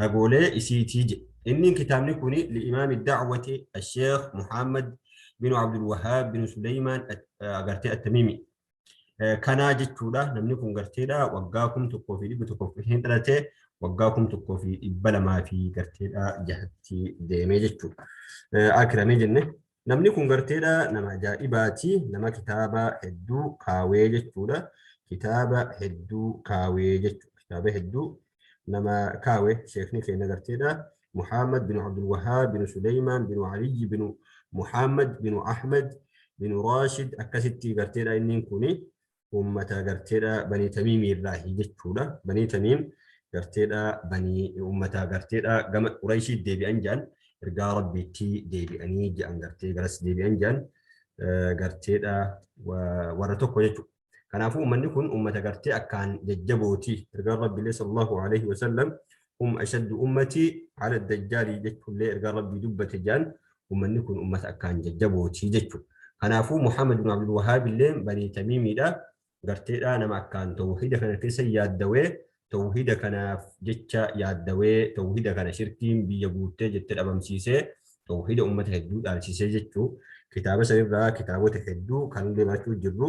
ragoolee isiitii jedhe. Innin kitaabni kun li'imaami da'wati asheekh Muhammad binu Abdul Wahaab binu Suleymaan agartee attamimi. Kanaa jechuudha namni kun garteedha waggaa kum tokkoo fi dhibba tokkoof hin dhalate waggaa kum tokkoo fi dhibba lamaa fi garteedha jahatti deemee jechuudha. Akirame jenne Namni kun garteedha nama ajaa'ibaati nama kitaaba hedduu kaawee jechuudha kitaaba hedduu kaawee jechuudha kitaaba hedduu nama kaawe sheekni keenya garteedha Muhammad bin Abdul Wahaab bin Suleymaan bin Aliyyi bin Muhammad bin Ahmad bin Raashid akkasitti garteedha inni kuni ummata garteedha banii tamiimii irraahi jechuudha banii tamiim garteedha banii ummata garteedha gama qurayshii deebi'an jedhan ergaa rabbiitti deebi'anii jedhan gartee garas deebi'an jedhan garteedha warra tokko jechuudha kanaafuu ummanni kun ummata gartee akkaan jajjabooti ergaa rabbiilee sallallahu alaihi wasallam hum ashaddu ummati ala dajjaali jechuullee ergaa rabbii dubbate jaan ummanni kun ummata akkaan jajjabooti jechu kanaafuu muhammad bin abdul wahaab illee banii tamiimiidha garteedha nama akkaan tawhida kana keessa yaaddawee tawhida kanaaf jecha yaaddawee tawhida kana shirkiin biyya guuttee jette dhabamsiisee tawhida ummata hedduu dhaalchisee jechuu kitaaba sanirraa kitaabota hedduu kan illee barachuu jirru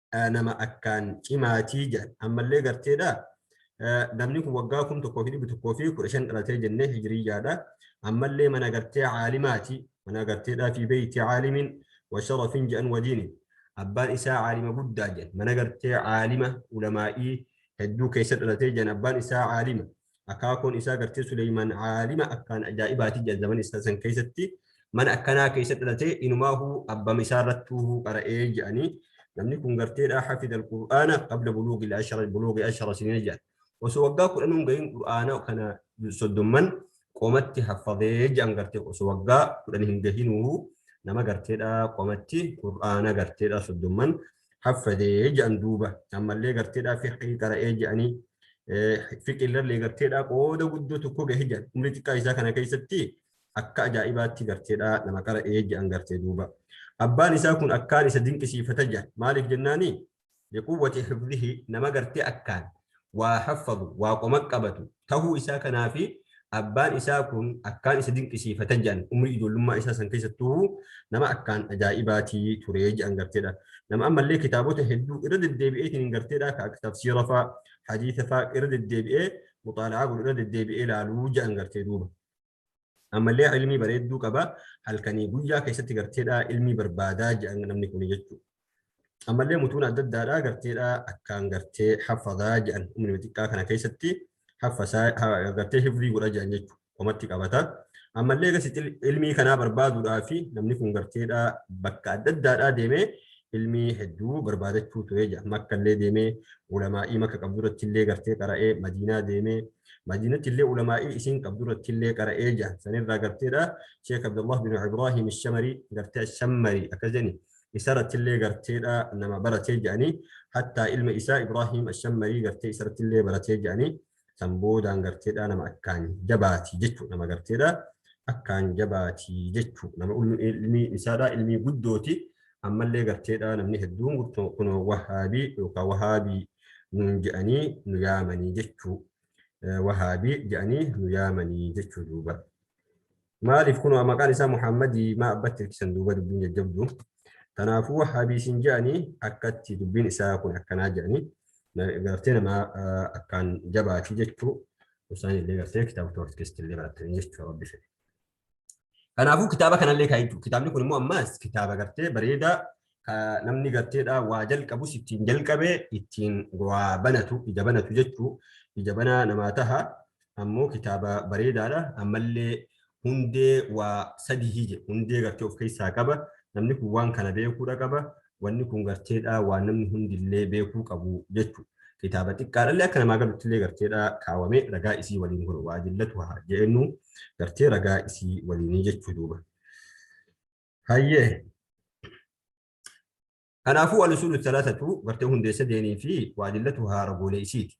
nama akkaan cimaatii jedhan ammallee garteedha namni kun waggaa kum tokkoo fi dhibbi tokkoo fi kudha shan dhalatee jennee hijiriyyaadha ammallee mana gartee caalimaati mana garteedhaa fi beeyti caalimin washarafin jedhan wadiini abbaan isaa caalima guddaa jedhan mana gartee caalima ulamaa'ii hedduu keessa dhalatee jedhan abbaan isaa caalima akaakoon isaa gartee Suleymaan aalima akkaan ajaa'ibaati jedhan zaman isaa san keessatti mana akkanaa keessa dhalatee inumaahu abbama isaa irrattuu qara'ee jedhanii namni kun garteedha hafida alqur'aana qabla buluugi ashara buluugi ashara sinina jedhan osoo waggaa kudhanuun gahin qur'aana kana soddomman qomatti haffadee jedhan gartee osoo waggaa kudhan hin gahinuu nama garteedha qomatti qur'aana garteedha soddomman haffadee jedhan duuba ammallee garteedhaa fiqii qara'ee jedhanii fiqiillee garteedhaa qooda guddoo tokko gahe jedhan umrii xiqqaa isaa kana keessatti akka ajaa'ibaatti garteedhaa nama qara'ee jedhan gartee duuba abbaan isaa kun akkaan isa dinqisiifata jedhan maaliif jennaanii liquwwati hifdhihi nama gartee akkaan waa haffadu, waa qoma qabatu, tahuu isaa kanaafi abbaan isaa kun akkaan isa dinqisiifata je'an umrii ijoollummaa isaa san keessattuuhu nama akkaan ajaa'ibaati ture je'an garteedha nama ammallee kitaabota hedduu irra deddeebi'eetiin garteedha ka akka tafsiira faa hadiisa faa irra deddeebi'ee muxaala'aa godhu irra deddeebi'ee laaluu je'an gartee duuba Ammallee ilmii bareedduu qaba halkanii guyyaa keessatti garteedhaa ilmii barbaadaa jedhan namni kun jechuudha. Ammallee mutuun adda addaadhaa garteedhaa akkaan gartee haffadaa jedhan umrii xiqqaa kana keessatti haffasaa gartee hifrii godha jedhan jechuudha. Qomatti qabata. Ammallee gasitti ilmii kanaa barbaaduudhaa fi namni kun garteedhaa bakka adda addaadhaa deemee ilmii hedduu barbaadachuu ture jedha. Makkallee deemee ulamaa'ii makka qabdu irratti illee gartee qara'ee madiinaa deemee Madiinatti illee ulamaa'ii isiin qabdu irratti illee qara'ee jahan san irraa garteedha Sheekh Abdullah bin Ibrahim Shamari gartee Shammari akkas jedhani isa irratti illee garteedha nama baratee jedhani hattaa ilma isaa Ibrahim Shammarii gartee isa irratti illee baratee jedhani san boodaan garteedha nama akkaan jabaati jechuu nama garteedha akkaan jabaati jechuu nama ilmi isaadha ilmi guddooti ammallee garteedhaa namni hedduun gurtoo kunoo wahaabii yookaan wahaabii nuun je'anii nu yaamanii jechuu wahaabii je'anii nu yaamanii jechuu duuba maaliif kunoo maqaan isaa muhammadii maa abbatti hirkisan duuba dubbiin jajjabdu kanaafuu wahaabii isin je'anii akkatti dubbiin isaa kun akkanaa je'anii gartee namaa akkaan jabaati jechuu isaan illee gartee kitaaba toorti keessatti illee barattanii jechuu rabbi fedhe Kanaafuu kitaaba kanallee kaa jechuudha. Kitaabni kun immoo ammaas kitaaba gartee bareedaa namni garteedhaa waa jalqabus ittiin jalqabee ittiin waa banatu ija banatu jechuu ija banaa namaa taha ammoo kitaaba bareedaadha ammallee hundee waa sadihii jedhe hundee gartee of keessaa qaba namni kun waan kana beekuudha qaba Wanni kun garteedhaa waan namni hundillee beekuu qabu jechu. Kitaaba xiqqaadhallee akka namaa galuttillee garteedhaa kaawame ragaa isii waliin kun waa jillatu haa jeennu gartee ragaa isii waliinii jechuu duuba. Hayyee. Kanaafuu al-usuulu thalathatu gartee hundee sadeenii fi waa jillatu haa ragoolee isiiti.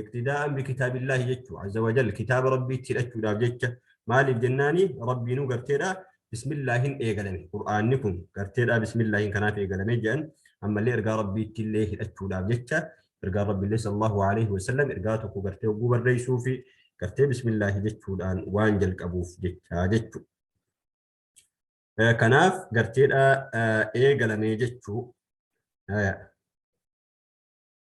iqtidaa'an bikitaabillaahi jechuu azza wajal kitaaba rabbiitti hidhachuudhaaf jecha maaliif jennaani rabbiinuu garteedha bismillaahin eegalame qur'aanni kun garteedha bismillaahin kanaaf eegalame jedhan ammallee ergaa rabbiitti illee hidhachuudhaaf jecha ergaa rabbiillee sallallahu alaihi wasallam ergaa tokko gartee oguu barreessuu fi gartee bismillaahi jechuudhaan waan jalqabuuf jecha jechuu kanaaf garteedha eegalame jechuu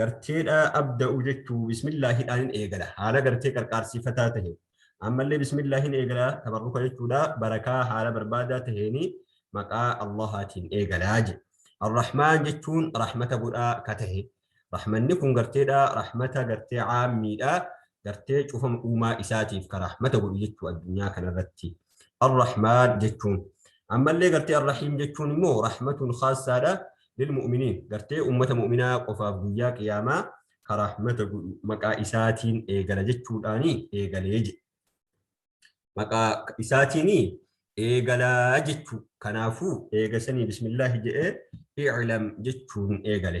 garteedha abda'u jechuu bismillaahidhaan eegala haala gartee qarqaarsiifataa tahe ammallee bismillaahin eegala tabarruka jechuudha barakaa haala barbaadaa taheeni maqaa allahaatiin eegalaa je arrahmaan jechuun rahmata godhaa ka tahe rahmanni kun garteedha rahmata gartee caammiidha gartee cufama uumaa isaatiif ka rahmata godhu jechuu addunyaa kanarratti Ar-Rahmaan jechuun. Ammallee gartee Ar-Rahiim jechuun immoo rahmatun khaassaadha lilmu'miniin gartee ummata mu'minaa qofaaf guyyaa qiyaamaa ka rahmata godhu maqaa isaatiin eegala jechuudhaani eegalee jedhe. Maqaa isaatiin eegalaa jechuu kanaafuu eegasanii bismillaahi jedhee i'lam jechuun eegale.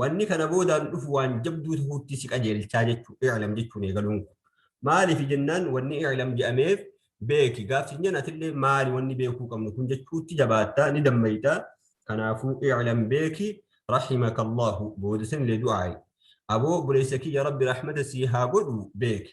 Wanni kana boodaan dhufu waan jabduu tahuutti si qajeelchaa jechu i'lam jechuun eegaluun kun. Maaliif jennaan wanni i'lam je'ameef beeki gaaf sin jen atillee maali wanni beekuu qabnu kun jechuutti jabaatta ni dammayta kanaafuu i'lam beeki rahimaka Allaahu booda sanillee du'aayi. Aboo obboleessa kiyya Rabbi rahmata sii haa godhu beeki.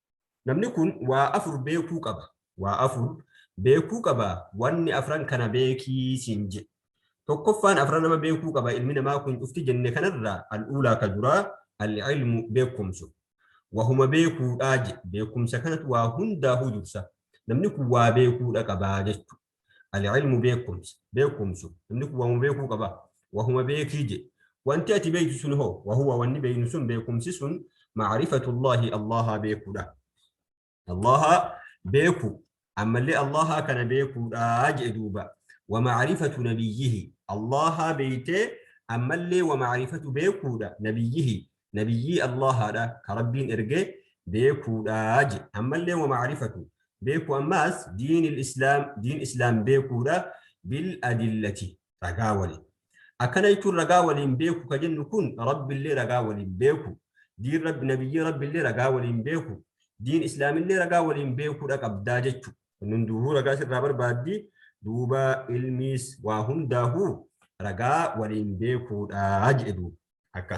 Namni kun waa afur beekuu qaba. Waa afur beekuu qaba wanni afran kana beekii siin jedhe. Tokkoffaan afran nama beekuu qaba ilmi namaa kun cufti jenne kanarraa al-uulaa ka duraa al-ilmu beekkomsu. Wahuma beekuudhaa jedhe beekkumsa kanatu waa hundaahuu dursa. Namni kun waa beekuudha qaba jechu. Al-ilmu beekumsa. Beekumsu. Namni kun waamuma beekuu qaba. Wahuma beekii je. Wanti ati beektu sun hoo? Wahuwa wanni beeknu sun beekumsi sun maarifatullaahi Allahaa beekuudha. Allahaa beeku. Ammallee Allahaa kana beekuudha je duuba. Wa maarifatu nabiyyihi. Allahaa beeytee ammallee wa maarifatu beekuudha nabiyyihi. nabiyyii Allaahaadha ka Rabbiin erge beekuudha je. Ammallee wa ma'rifatu beeku ammaas diinil islaam diin islaam beekuudha bil adillati ragaa waliin. Akkana jechuun ragaa waliin beeku ka jennu kun Rabbillee ragaa waliin beeku diin Rabbi nabiyyii Rabbillee ragaa waliin beeku diin islaamillee ragaa waliin beekuudha qabdaa jechu. Kun hunduuhuu ragaa sirraa barbaaddi duuba ilmiis waa hundaahuu ragaa waliin beekuudha jedhe duuba. akka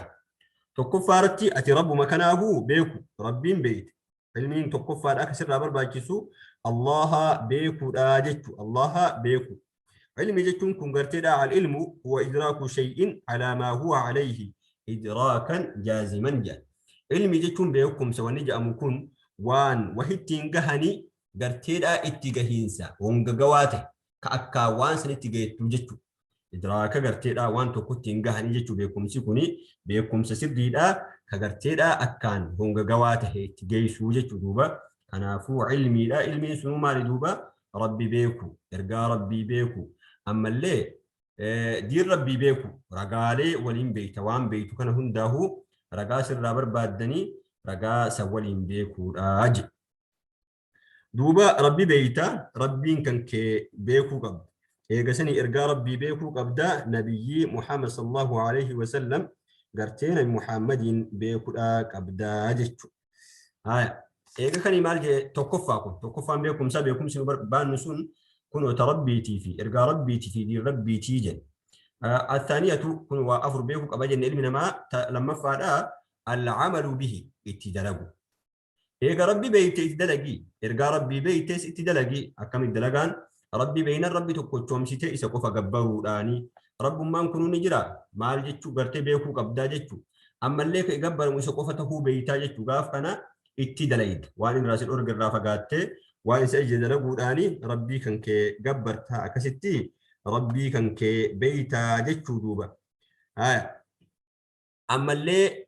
tokkoffaa irratti ati rabbuma kanaafu beeku rabbiin beeyte ilmiin tokkoffaadha akka sirraa barbaachisu allaha beekuudha jechu allaha beeku ilmi jechuun kun garteedha al ilmu huwa idraaku shay'in alaa maa huwa alayhi idraakan jaaziman jedha ilmi jechuun beekumsa wanni jedhamu kun waan wahittiin gahanii garteedhaa itti gahiinsa hongagawaa ta'e ka akkaa waan sanitti gahettu jechu idraaka garteedha waan tokkotti hin gahanii jechuu beekumsi kuni beekumsa sirriidha ka garteedha akkaan hongagawaa tahe itti geessuu jechuu duuba kanaafuu ilmiidha ilmiin sunuu maali duuba rabbi beeku ergaa rabbii beeku ammallee diin rabbii beeku ragaalee waliin beekta waan beektu kana hundaahuu ragaa sirraa barbaaddanii ragaa san waliin beekuudha je duuba rabbi beeyta rabbiin kan kee beekuu qabda eegasanii ergaa rabbii beekuu qabda nabiyyii muhammad sallallahu alaihi wasallam gartee nabi muhammadiin beekudha qabda jechu haya eega kani maal jee tokkoffaa kun tokkoffaan beekumsa beekumsi nu barbaannu sun kunoota rabbiitii fi ergaa rabbiitii fi diin rabbiitii jedhe athaaniyatu kun waa afur beekuu qaba jenne ilmi namaa lammaffaadha alcamalu bihi itti dalagu Eega Rabbi beeyte itti dalagi. Ergaa Rabbii beeytes itti dalagi. Akkami dalagaan? Rabbi beeynan Rabbi tokkochoomsitee isa qofa gabbaruudhaani. Rabbummaan kunuu ni jira. Maal jechuu gartee beekuu qabdaa jechu. Ammallee ka gabbaramu isa qofa tahuu beeytaa jechu. Gaaf kana itti dalayda. Waan inni irraa si dhorge irraa fagaattee waan isa ajaje dalaguudhaani Rabbii kan kee gabbartaa. Akkasitti Rabbii kan kee beeytaa jechuu duuba. Haya. Ammallee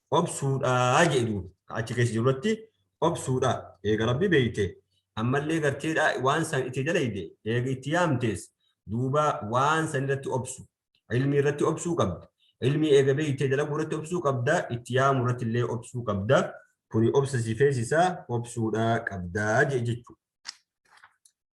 obsuudhaa jedhu ka achi keessa jiru irratti obsuudha eega rabbi beeyte ammallee garteedha waan san itti dalayde eega itti yaamtees duuba waan san irratti obsu ilmii irratti obsuu qabda ilmii eega beeyte dalaguu irratti obsuu qabda itti yaamuu irratti illee obsuu qabda kuni obsa si feesisaa obsuudha qabdaa jechuu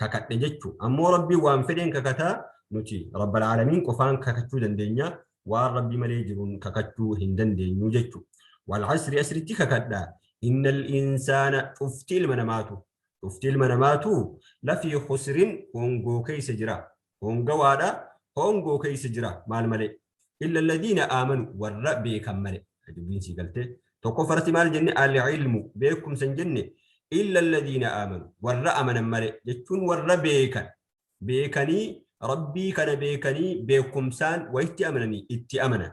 kakadhe jechu ammoo rabbiin waan fedheen kakata nuti rabbal aalamiin qofaan kakachuu dandeenya waan rabbii malee jiruun kakachuu hin dandeenyu jechu wal asri asritti kakadha innal insaana cufti ilma namaatu cufti ilma namaatu lafii khusrin hongoo keessa jira Hoongawaadha, hoongoo keessa jira, maal malee? Illa ladiina aamanu, warra beekan malee. Dubbiin sii galtee. Tokko farsi maal jenne? Al-ilmu, beekumsa hin jenne. Illa ladiina aamanu, warra amanan malee. Jechuun warra beekan. Beekanii, Rabbii kana beekanii, beekumsaan wayitti amananii, itti amanan.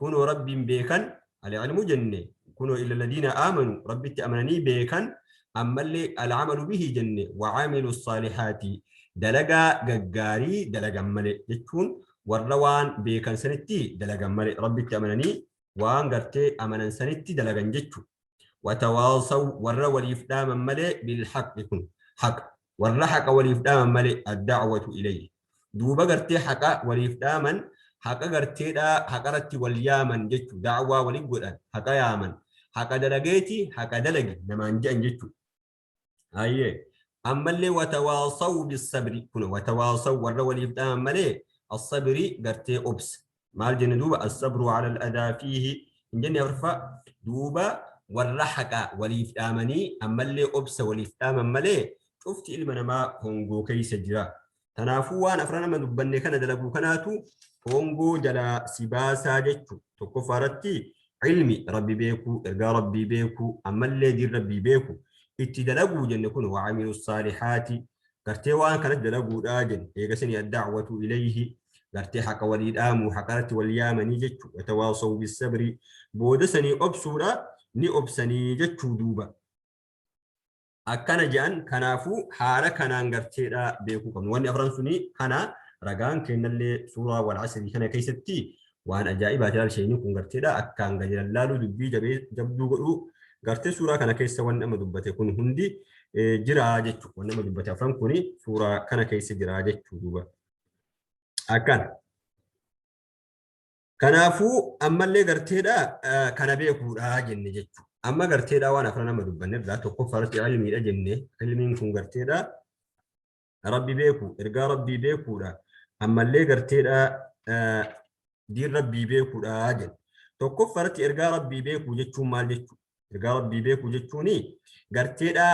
kunoo rabbiin beekan alcilmu jenne kunoo illa ladiina aamanu rabbitti amananii beekan ammallee alcamalu bihi jenne wacamilu saalihaati dalagaa gaggaarii dalagan male jechuun warra waan beekan sanitti dalagan male rabbitti amananii waan gartee amanan sanitti dalagan jechu watawaasaw warra waliif dhaaman malee bilhaqi kun haqa Warra haqa waliif dhaaman malee, ad-da'watu ilayhi. Duuba gartee haqa waliif dhaaman, haqa gartee dhaa, haqa irratti wal yaaman jechu, da'waa wali godhan, haqa yaaman. Haqa dalageeti, haqa dalagi namaan je'an jechu. Hayyee. Ammallee watawaasawu bis-sabri. Kuno, watawaasawu warra waliif dhaaman malee, as-sabri gartee obsa. maal jenne duuba as-sabru ala al-adaa fiihi hin jenne afraffaa duuba warra haqaa waliif dhaamanii ammallee obsa waliif dhaaman malee cufti ilma namaa hongoo keessa jira tanaafuu waan afra nama dubbanne kana dalaguu kanaatu hongoo jalaa si baasaa jechu tokkoffaa irratti ilmi rabbi beekuu ergaa rabbii beekuu ammallee diin rabbii beeku itti dalaguu jenne kun waamilu saalihaati gartee waan kanatti dalaguudha jedhu eegasini addacwatu ilayhi gartee haqa walii dhaamuu haqarratti wal yaamanii jechuu watawaasaw bisabrii booda sanii obsuudha ni obsanii jechuu duuba akkana jedhan kanaafuu haala kanaan garteedha beekuu qabnu wanni afran sunii kana ragaan kennallee suuraa wal asrii kana keessatti Waan ajaa'ibaa jalaal sheeyni kun garteedha akka hanga jiran laaluu dubbii jabee jabduu godhuu gartee suuraa kana keessa wanni amma dubbate kun hundi jiraa jechuu wanni amma dubbate afran kun suuraa kana keessa jiraa jechuu duuba akkan kanaafuu ammallee garteedha kana beekuudha jenne jechuu amma garteedha waan afran amma dubbanne irraa tokkoffaa irratti ilmiidha jenne ilmiin kun garteedha rabbi beeku ergaa rabbii beekuudha ammallee garteedha diin rabbii beekuudha jedhu tokkoffaa irratti ergaa rabbii beekuu jechuun maal jechuu ergaa rabbii beekuu jechuun garteedha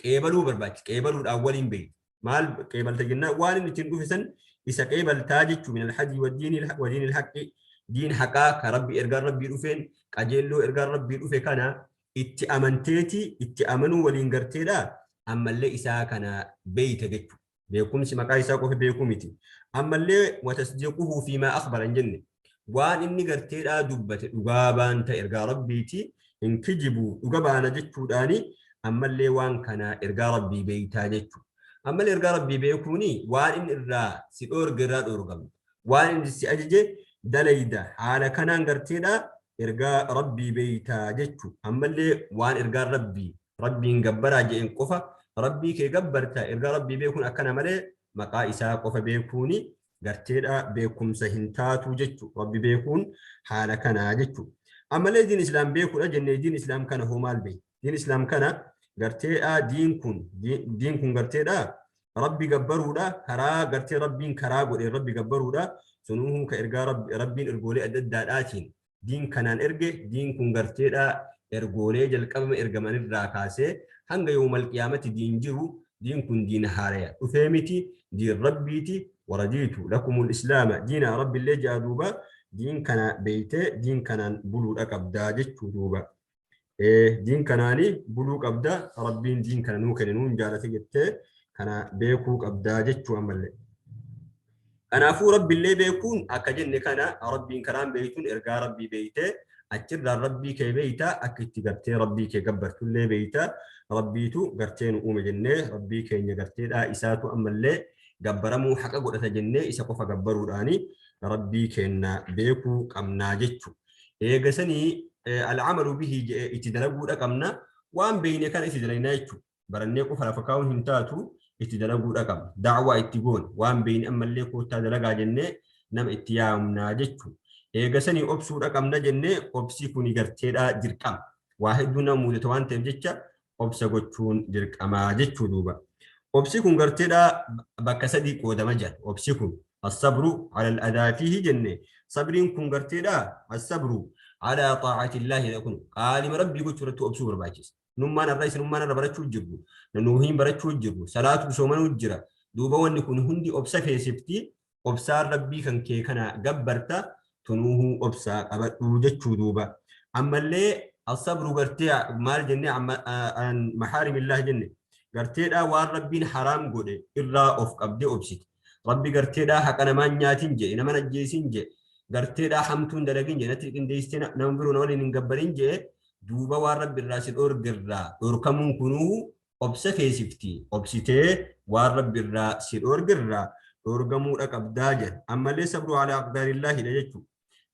qeebaluu barbaachisa qeebaluudhaan waliin beeku maal qeebalta jennaan waan inni ittiin dhufisan isa qeebaltaa jechuu min alhajii wadiin ilhaqi diin haqaa ka rabbi ergaan rabbii dhufeen qajeelloo ergaan rabbii dhufe kana itti amanteeti itti amanuu waliin garteedha ammallee isaa kana beeyta jechu beekumsi maqaa isaa qofa beekuu miti ammallee watasdiquhu fi maa akhbara hin jenne waan inni garteedhaa dubbate dhugaa baanta ergaa rabbiiti hin kijibu dhuga baana jechuudhaani ammallee waan kana ergaa rabbii beeytaa jechu ammallee ergaa rabbii beekuuni waan inni irraa si dhoorge irraa dhoorgamta waan inni si ajaje dalayda haala kanaan garteedhaa ergaa rabbii beeytaa jechu ammallee waan ergaan rabbii rabbiin gabbaraa je'een qofa rabbii kee gabbarta ergaa rabbii beekuun akkana malee maqaa isaa qofa beekuuni garteedha beekumsa hin taatu jechu rabbi beekuun haala kanaa jechu ammallee diin islaam beekuudha jennee diin islaam kana hoo maal beeyta diin islaam kana garteedhaa diin kun diin kun garteedhaa rabbi gabbaruudha karaa gartee rabbiin karaa godhe rabbi gabbaruudha sunuu ka ergaa rabbiin ergoolee adda addaadhaatiin diin kanaan erge diin kun garteedhaa ergoolee jalqabama ergaman irraa kaasee hanga yoomal qiyaamatti diin jiru diin kun diin haaraya dhufee miti diin rabbiiti waradiitu lakumul islaama diina rabbillee ja'a duuba diin kana beeytee diin kanaan buluudha qabdaa jechuu duuba Diin kanaani buluu qabda rabbiin diin kana nuu kenne nuun jaalate jettee kana beekuu qabda jechuu ammallee. Kanaafuu rabbillee beekuun akka jenne kana rabbiin karaan beektuun ergaa rabbii beektee achirraan rabbii kee beekta akka itti gartee rabbii kee gabbartullee beekta rabbiitu gartee nu uume jennee rabbii keenya garteedhaa isaatu ammallee gabbaramuu haqa godhata jennee isa qofa gabbaruudhaani rabbii keenna beekuu qabnaa jechuudha. eega sanii al'amalu bihi je'e itti dalaguu dhaqabna waan beeyne kana itti dalagnaa jechuudha barannee qofa lafa kaa'uun hin taatu itti dalaguu dhaqabna da'waa itti goon waan beeyne ammallee koottaa dalagaa jennee nama itti yaamnaa jechuudha eega sanii obsuu dhaqabna jennee obsii kuni garteedhaa dirqama waa hedduu nama muudata waan ta'eef jecha obsa gochuun dirqama jechuu duuba. Obsi kun garteedha bakka sadii qoodama jedha. Obsi kun as-sabru ala al-adaa fiihi jenne sabriin kun garteedha as-sabru ala xaa'atillaahi jedha kun qaalima rabbii gochuu irratti obsuu barbaachisa. Nummaan irra isin ummaan irra barachuu jirru nanuuhiin barachuu jirru salaatu soomanuu jira duuba wanni kun hundi obsa feesifti obsaan rabbii kan kee kana gabbarta tunuuhu obsaa qabadhuu jechuu duuba ammallee asabru gartee maal jenne an mahaarimillaah jenne garteedhaa waan rabbiin haraam godhe irraa of qabdee obsite rabbi garteedhaa haqa namaan nyaatin jee naman ajjeesin jee garteedhaa hamtuun dalagin jee natti qindeessite nama biroo na waliin hin gabbarin jee duuba waan rabbi irraa si dhorgerraa dhorkamuun kunuu obsa feesifti. Obsitee waan Rabbi irraa si dhoorge irraa dhoorgamuudha qabdaa jedha. Ammallee sabru alaa aqdaarillaahidha jechu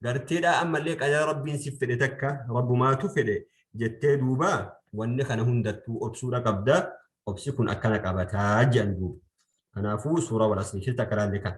garteedhaa ammallee qadara Rabbiin sif fedhe takka Rabbumaatu fedhe jettee duuba wanni kana hundattuu obsuudha qabda. Obsi kun akkana qabataa jedhan duuba. Kanaafuu suuraa wal asrii keessatti akka ilaalle kana.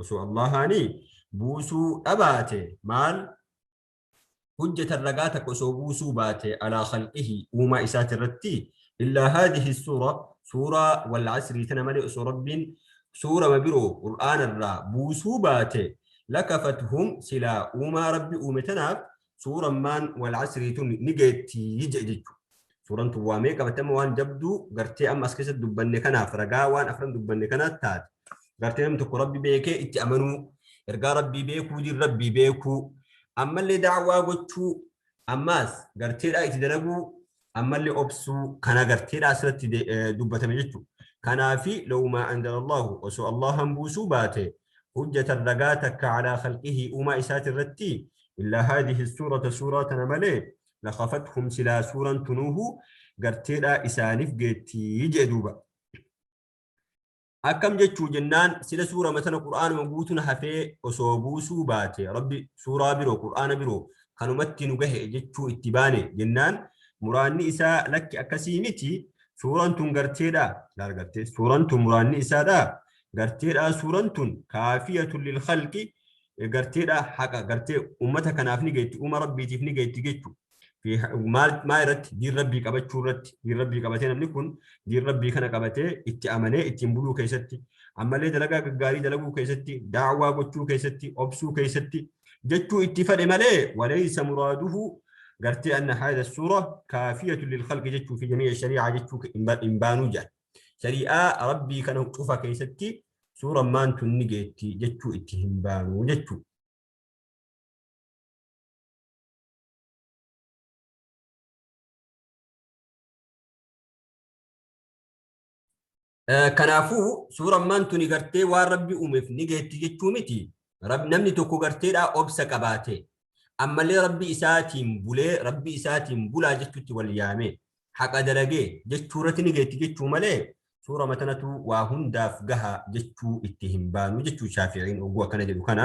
osoo Allahaani buusuu dhabaate maal hujjatan ragaa takka osoo buusuu baate alaa khalqihi uumaa isaati irratti illaa haadihi suura suuraa wal asrii tana malee osoo rabbiin suurama biroo qur'aana irraa buusuu baate lakafathum silaa uumaa rabbi uume tanaaf suuran maan wal asrii tun ni geetti jedhe jechuudha. Suuran tun waamee qabatama waan jabduu gartee amma as keessatti dubbanne kanaaf ragaa waan afran dubbanne kanaas taate. Gartee namni tokko rabbi beekee itti amanuu ergaa rabbii beekuu diin rabbii beekuu ammallee daawwaa gochuu ammaas garteedhaa itti dalaguu ammallee obsuu kan agarteedha asirratti dubbatame jechuudha. Kanaafi lawumaa anzalallahu osoo Allahan buusuu baate hujjatan ragaa takka calaa khalqihi uumaa isaati irratti illaa haadihi suurata suuraa tana malee lakafathum silaa suuran tunuuhu garteedhaa isaaniif geettii jee duuba. akkam jechuu jennaan sila suurama sana qur'aanuma guutuun hafee osoo buusuu baate rabbi suuraa biroo qur'aana biroo kanumatti nu gahe jechuu itti baane jennaan muraanni isaa lakki akkasii miti suuran tun garteedha laal gartee suuran tun muraanni isaadha garteedha suuran tun kaafiyatun lil khalqi garteedha haqa gartee ummata kanaaf ni geetti uuma rabbiitiif ni geetti jechuudha maal maa irratti diin rabbii qabachuu irratti diin rabbii qabatee namni kun diin rabbii kana qabatee itti amanee ittiin buluu keessatti ammallee dalagaa gaggaarii dalaguu keessatti daawwaa gochuu keessatti obsuu keessatti jechuu itti fedhe malee waleessa muraaduhu gartee anna haada suura kaafiyatu lil khalqi jechuu fi jamii shari'aa jechuu hin baanuu jedhan shari'aa rabbii kana cufa keessatti suura maantu ni geetti jechuu itti hin baanuu jechuu Kanaafuu suura ammaan tuni gartee waan rabbi uumeef ni geetti jechuu miti. Namni tokko garteedhaa obsa qabaate. Ammallee rabbi isaatiin bulee rabbi isaatiin bulaa jechuutti wal yaame. Haqa dalagee jechuu irratti ni geetti jechuu malee suura matanatu waa hundaaf gaha jechuu itti hin baanu jechuu shaafi'iin oguu akkana jedhu kana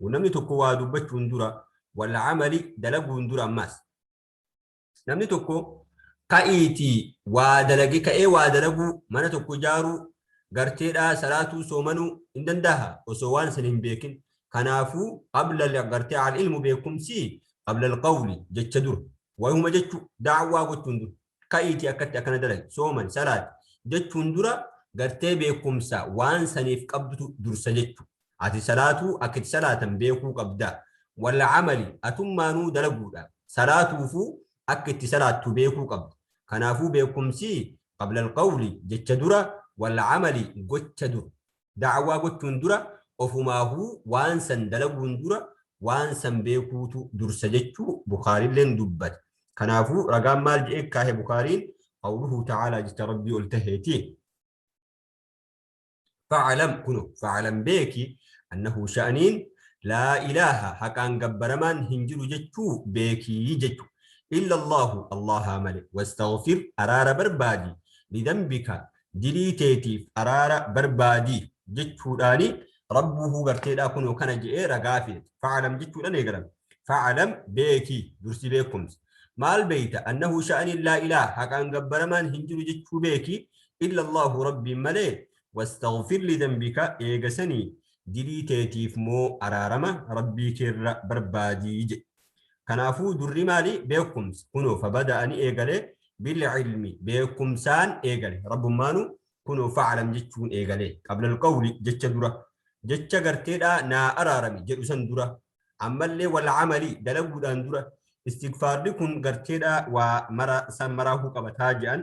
Namni tokko waa dubbachuun dura wal amali dalaguun dura ammaas. Namni tokko ka'iitii waa dalage ka'ee waa dalaguu mana tokko ijaaruu garteedhaa salaatuu soomanuu hin dandaaha osoo waan san hin beekin. Kanaafuu qabla gartee al ilmu beekumsii qabla al qawli jecha dura. Wayuma jechuu da'awaa gochuun dura. ka'iitii akkatti akkana dalagi sooman salaati jechuun dura gartee beekumsa waan saniif qabdutu dursa jechu ati salaatuu akka itti salaatan beekuu qabda wal amali atummaanuu dalaguudha salaatuufuu akka itti salaattu beekuu qabda kanaafuu beekumsi qabla alqawli jecha dura wal amali gocha dura Da'awaa gochuun dura ofumaahuu waan san dalaguun dura waan san beekuutu dursa jechuu Bukhaariilleen dubbate. Kanaafuu ragaan maal je'ee kaahe Bukhaariin qawluhu ta'aalaa jecha Rabbii ol taheeti. Fa'alam kuno fa'alam beeki annahu sha'aniin laa ilaaha haqaan gabbaramaan hin jiru jechuu beekii jechu. Illa Allaahu Allaahaa male wastaghfir araara barbaadi lidambika dilii teetiif araara barbaadi jechuudhaani rabbuuhuu garteedhaa kunoo kana je'ee ragaa fidate fa'alam jechuudhaan eegalame fa'alam beeki dursi beekumsa maal beeyta annahu sha'aniin laa ilaa haqaan gabbaramaan hin jiru jechuu beeki illa allahu rabbiin malee wastaghfir lidambika eegasanii dilii teetiif moo araarama rabbii keerra barbaadii jedhe Kanaafuu durri maali? Beekumsa. Kunoo fabada ani eegale bilcilmi beekumsaan eegale. Rabbummaanu kunoo faclam jechuun eegale. Qabla alqawli jecha dura. Jecha garteedhaa naa araarami jedhu san dura. Ammallee walcamali dalaguudhaan dura. Istigfaarri kun garteedhaa waa mara san maraahuu qabataa je'an.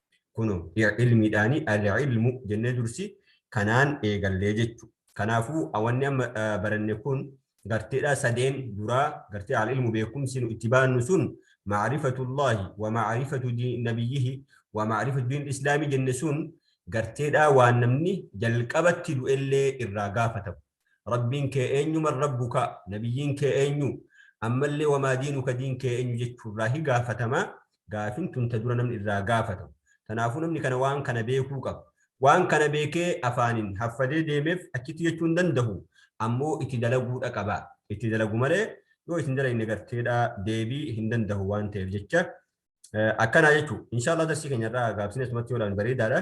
Kuno ilmiidhaani al-ilmu jennee dursi kanaan eegallee jechu. Kanaafuu wanni amma baranne kun garteedhaa sadeen duraa gartee al-ilmu beekumsi nu itti baannu sun ma'rifatullaahi wa ma'rifatu nabiyyihi wa ma'rifatu diin islaamii jenne sun garteedhaa waan namni jalqabatti du'ellee irraa gaafatamu. Rabbiin kee eenyu man rabbuka nabiyyiin kee eenyu ammallee wamaa diinuka diin kee eenyu jechuu irraa hi gaafatama gaafin tun ta dura namni irraa gaafatamu tanaafuu namni kana waan kana beekuu qaba waan kana beekee afaanin haffadee deemeef achitti jechuu hin dandahu ammoo itti dalaguudha qaba itti dalagu malee yoo isin dalagne garteedha deebii hin dandahu waan ta'eef jecha akkanaa jechuu inshaallah darsii keenya irraa gaabsinee sumatti yoo ilaalan bareedaadha